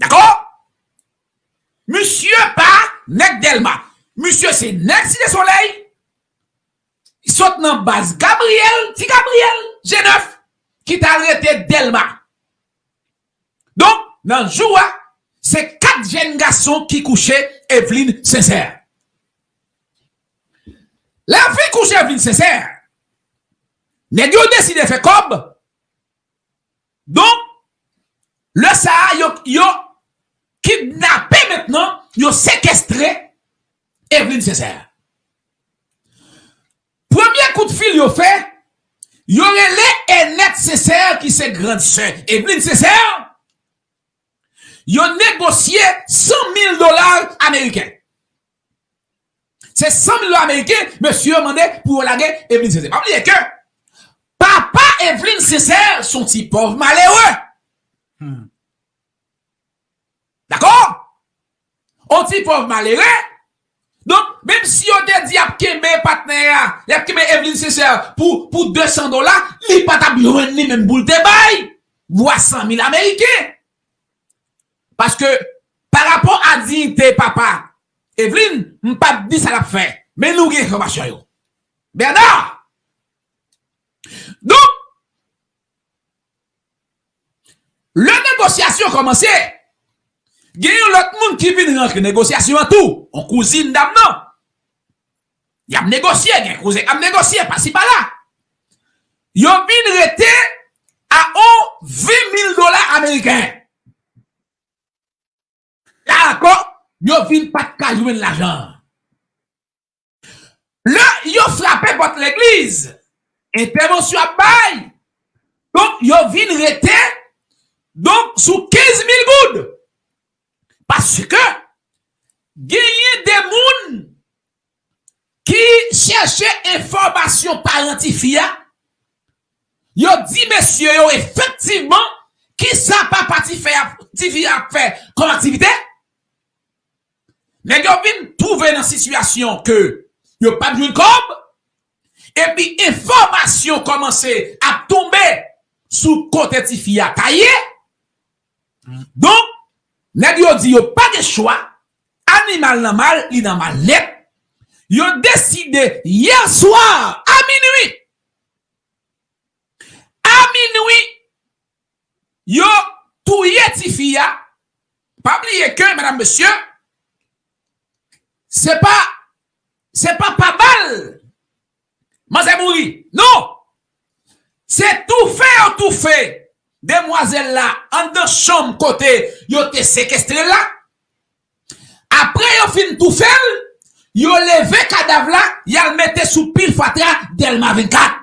Dakò? Misye pa nèg Dèlma. Misye se nèg Site Solèy. Li sot nan baz Gabriyèl, Ti Gabriyèl, je nèf, ki t al rete Dèlma. Donk, nan jou a, se kat jenn gason ki kouche Evlin Sensè. Lè yo fin kouche Evlin Sensè, nèg yo deside fè kòb. Donk, lè sa a, yo, yo kidnape mentnan, yo sekestre Evelyne Sincère. Premye kout fil yo fè, yo rele Enette Sincère ki se grand sè Evelyne Sincère, yo negosye 100 mil dola ameriken. Se 100 mil dola ameriken mesye yo mande pou yo lage Evelyne Sincère. Pa bliye ke papa Evelyne Sincère se yon ti pòv malere. Dakò? Yon ti pòv malere. Donk, menm si yo te di y ap kenbe patnè a, y ap kenbe Evelyne Sincère pou 200 dola, li pa t ap jwenn li menm pou l te bay vwa 100 mil ameriken. Paske pa rapò a diyite papa Evelyne m pa t di sa l ap fè men nou gen enfòmasyon yo. Bernard! Donk lè negosyasyon kòmanse gen yon lòt moun ki vin rantre negosyasyon an tou, yon kouzin dam nan. Y ap negosye, gen koze k ap negosye pasi pala. Yo vin rete a on 20 mil dola ameriken. La ankò, yo vin pa t ka jwenn lajan an. Lè yo frape pòt legliz, entèvansyon ap bay, donk yo vin rete donk sou 15 mil goud. Paske, genyen de moun ki chèche enfòmasyon paran tifi a, yo di mesye yo efektivman kisa papa tifi a ap fè kòm aktivite, nèg yo vin twouve nan sitiyasyon ke yo pap jwenn kòb, epi enfòmasyon kòmanse ap tonbe sou kote tifi a ta ye. Donk, nèg yo di yo pa gen chwa, animal nan mal, li nan mal nèt, yo deside yè swa a minui, a minui, yo touye ti fi a, pa bliye ke medam mesye, se pa, se pa pa bal. Manzè mouri non! Se toufe yo toufe demwazèl la anndan chanm kote yo te sekestre l la. Apre yo fin toufe l, yo leve kadav la y al mete sou pil fatra Dèlma 24.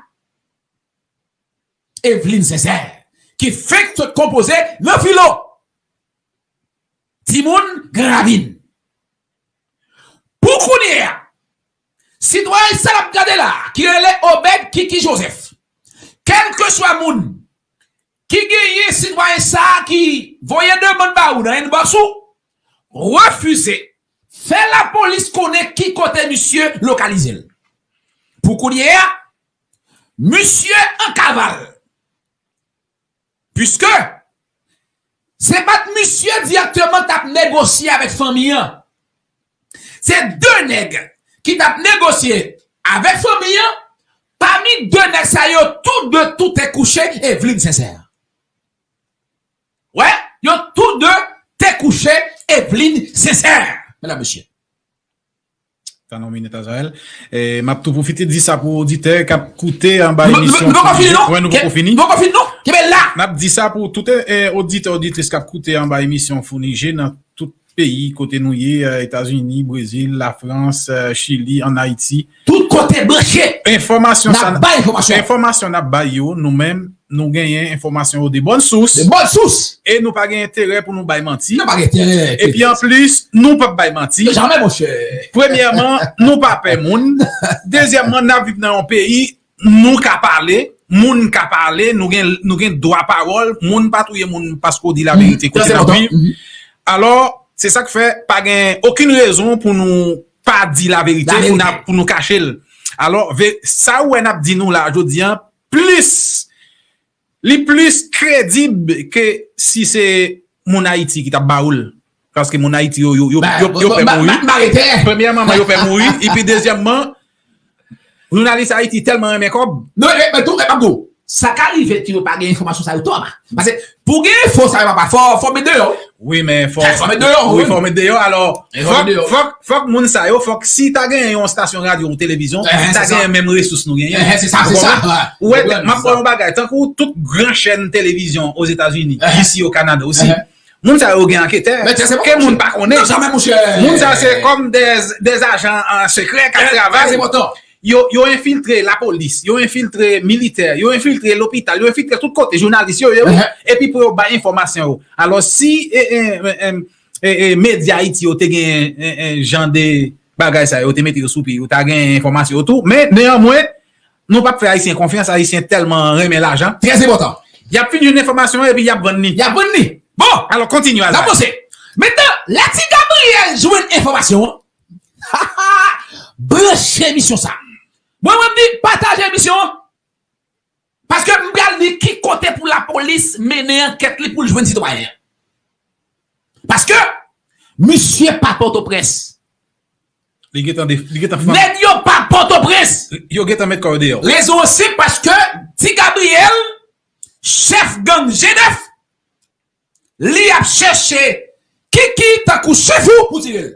Evlin Zèzè ki fenk sot konpoze nan filo timoun Gran Ravin. Pou kounye a, sitwayen sa n ap gade la a ki rele Obed Kiki Joseph, kèlkeswa moun ki genyen sitwayen sa a ki voye demann ba ou nan inbox ou, refize fè lapolis konnen ki kote misye lokalize l. Pou kounye a, misye an kaval. Puiske, se pa t misye dirèkteman t ap negosye avèk fanmi an. Se de nèg ki t ap negosye avèk fanmi an, pami de nèg sa yo, tou de toute kouche Evlin Sensè. Wè, yo tou de te kouche Evlin Sensè, medam mesye. Tan nou minit Azael. M ap tou pwofite di sa pou oditè k ap koute anba emisyon. Nou poko fini non! Nou poko fini non! Kenbe la! N ap di sa pou tout oditè oditris k ap koute anba emisyon Founije nan tout peyi kote nou ye, Etazini, Brezil, Lafrans, Chili, ann Ayiti. Tout kote branche! Enfòmasyon sa n ap bay yo nou menm Nou genyen enfòmasyon yo de bòn sous. De bòn sous! E nou pa gen enterè pou nou bay manti. Nou pa gen enterè, Peters. Epi anplis, nou p ap bay manti. Non, jamè, monchè. Premyèman, nou pa pè moun. Dezyèmman, n ap viv nan yon peyi, nou ka pale, moun ka pale, nou gen, nou gen dwa pawòl, moun pa touye moun paske w di laverite kote n ap viv. Alò, se sa k fè, pa gen okenn rezon pou nou pa di laverite, pou nou kache l. Alò, sa ou wè n ap di nou la jodi a, Plis Li plis kredib ke si se moun Ayiti ki tap ba ou l. Paske moun Ayiti yo yo pè mouri. Premyèman yo pè mouri epi dezyèmman jounalis Ayiti tèlman renmen kòb. Sa ka rive ke yo pa gen enfòmasyon sa yo Thomas. Pase Pou gen enfo sa yo papa fò met deyò wi. Wi men fò met deyò. Wi fò met deyò alò fòk moun sa yo fòk si ta genyen yon stasyon radyo ou televizyon ta genyen menm resous nou genyen. Enhen se sa se sa. Ou wè map wè yon bagay tankou tout gran chèn televizyon ozetazini isi o kanada osi moun sa yo gen anketè ke moun pa konnen. Moun sa se kòm de ajan sekrè kap travay. Yo yo enfiltre lapolis, yo enfiltre militè, yo enfiltre lopital, yo enfiltre tout kote, jounalis yo ye wi, epi pou yo bay enfòmasyon yo. Alò si medya Ayiti yo te gen jan de bagay sa yo, yo te mete yo sou pye, yo ta gen enfòmasyon yo tou, men neyanmwen nou pap fè Ayisyen konfyans, Ayisyen tèlman renmen lajan. Trè enpòtan. Y ap fin jwenn enfòmasyon an epi y ap vann li. Y ap vann li. Bon! Alò kontinye Azany. N ap vanse. Mentnan, lè ti Gabriyèl jwenn enfòmasyon an. Hahaa branche emisyon sa. Mwen mwen di pataje emisyon an paske m pral di ki kote pou lapolis mennen ankèt li pou l jwenn sitwayen an. Paske misye pa pòtoprens. Li gentan de li gentan fann. Nèg yo pa pòtoprens. Yo gentan met kò yo deyò. Rezon an senp paske ti Gabriel chèf gang G9. Li ap chèche Kiki tankou chefou pou tire l.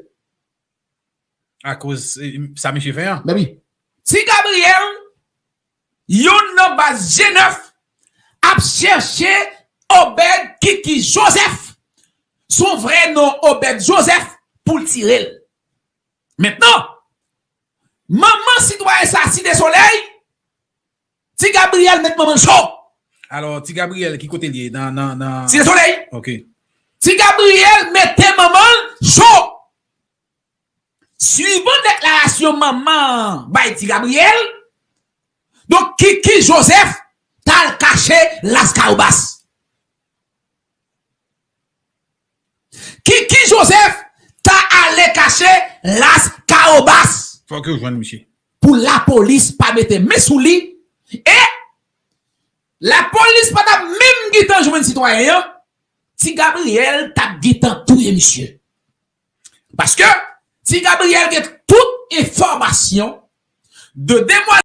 Akoz sa misye fè an. Mèt wi. Ti Gabriel, youn nan baz G9, ap chèche Obed Kiki Joseph, son vrè non Obed Joseph, pou l tire l. Mentnan, manman sitwayen sa Site Solèy, Ti Gabriel met manman l cho. Alors ti Gabriel ki kote li ye nan nan nan. Site soley. Ok. Ti Gabriel mete manman l cho. Suivant deklarasyon manman an bay ti Gabriel, donk Kiki Joseph tal kache Lascahobas. Kiki Joseph ta ale kache las caobas. Fok yo jwenn misye. Pou la police pa mete men sou li e la police pa tap menm gitan jwenn sitwayen an ti Gabriel tap gitan touye misye paske ti Gabriel gen tout enfomasyon de demwazèl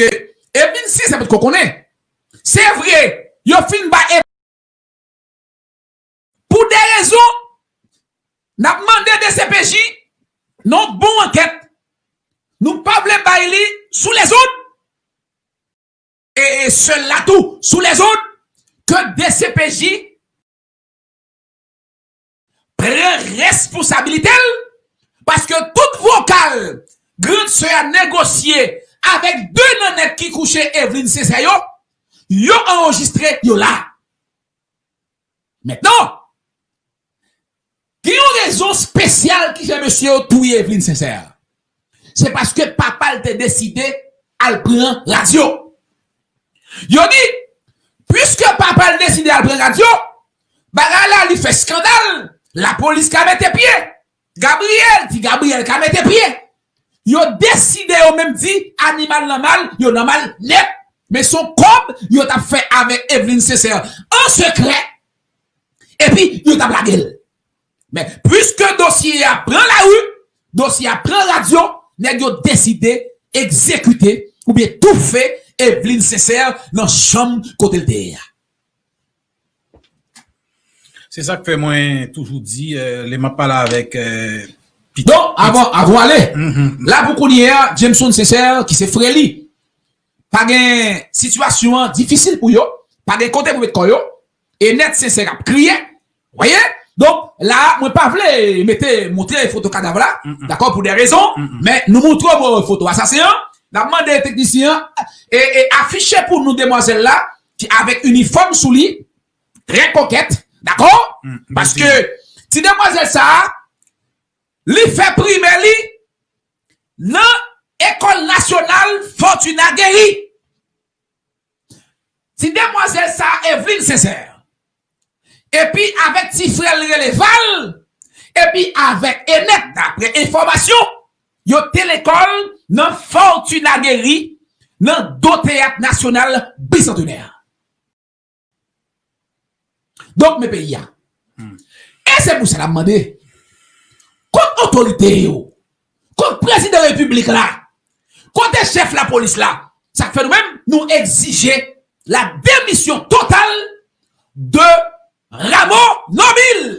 Ke e vin si se pot ko konnen. Se vre yo fin bay e. Pou de rezon, n ap mande dcpj nan yon bon ankèt nou pa vle bay li sou lèzòd, e sèl la tou sou lèzòd, ke dcpj pran responsabilite l, paske tout vokal grand sè a negosye avèk 2 nan nèg ki kouche Evelyne Cesaire yo, yo anrejistre, yo la. Mentnan, gen yon rezon spesyal ki fè mesye yo touye Evelyne Sincère. Se paske papa l te deside al pran radyo. Yo di, puiske papa l deside al pran radyo, bagay la li fè skandal, lapolis ka mete pye. Gabriel di Gabriel ka mete pye. Yo deside yo menm di animal nan mal yo nan mal nèt men son kòb yo tap fè avèk Evelyne Sincère an sekrè epi yo tap lagel men puiske dosye a pran lari dosye a pran radyo nèg yo deside egzekite oubyen toufe Evelyne Sincère nan chanm kotel te ye a. Se sak fè mwen toujou di lè map pale avèk pitit. Don avan avon ale la pou kounye a Jameson Sincère ki se frè li pa gen sitiyasyon an difisil pou yo pa gen kote pou met kò yo e nèt Sincère ap kriye ou wè donk la mwen pa vle mete montre foto kadav la dakò pou de rezon men nou montre mwen foto asasen an nap mande teknisyen an e afiche pou nou demwazèl la. Ki avèk inifòm sou li, trè kokèt, dakò? Paske ti demwazèl sa a, li fè primè li nan Ecole Nationale Fortuna Guéry. Ti demwazèl sa a, Evelyne Sincère, epi avèk ti frè l rele Val epi avèk Enèt daprè enfòmasyon yo te lekòl nan Fortuna Guéry nan do teyat nasyonal Bisantenè an. Donk men peyi a. E se pou sa n ap mande kot otorite yo Kot prezidan repiblik la? Kote chèf lapolis la? Sa k fè nou menm nou egzije la demisyon total de Rameau Nobile!